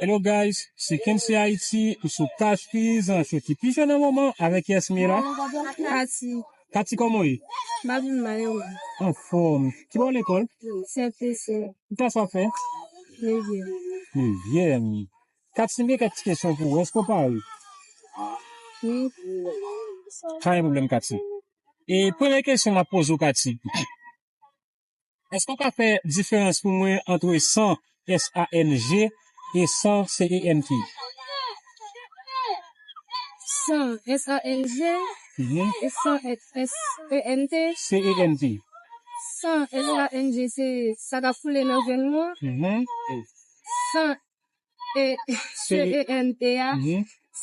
Hello guys, se Kency Haiti, m sou paj peyizan cho ki pi jèn nan moman avèk yes m ye la. Kati. Kati kòman w ye? Map vin mal e ou? Anfòm. Ki bò lekòl? CFPC. Ki klas wap fè? Nevyèm. Nevyèm. Kati m gen kèk ti kesyon pou ou, èske w pare? Wi. Pa gen pwoblèm Kati. E premye kesyon map poze w Kati. Eske w ka fè diferans pou mwen antre san, S-A-N-G, e san, C-E-N-T? San, S-A-N-G, e san, S-E-N-T? C-E-N-T. San, S-A-N-G, se sa k ap koule nan venn nou an. San, C-E-N-T, a,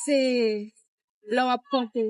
se lè w ap ponpe.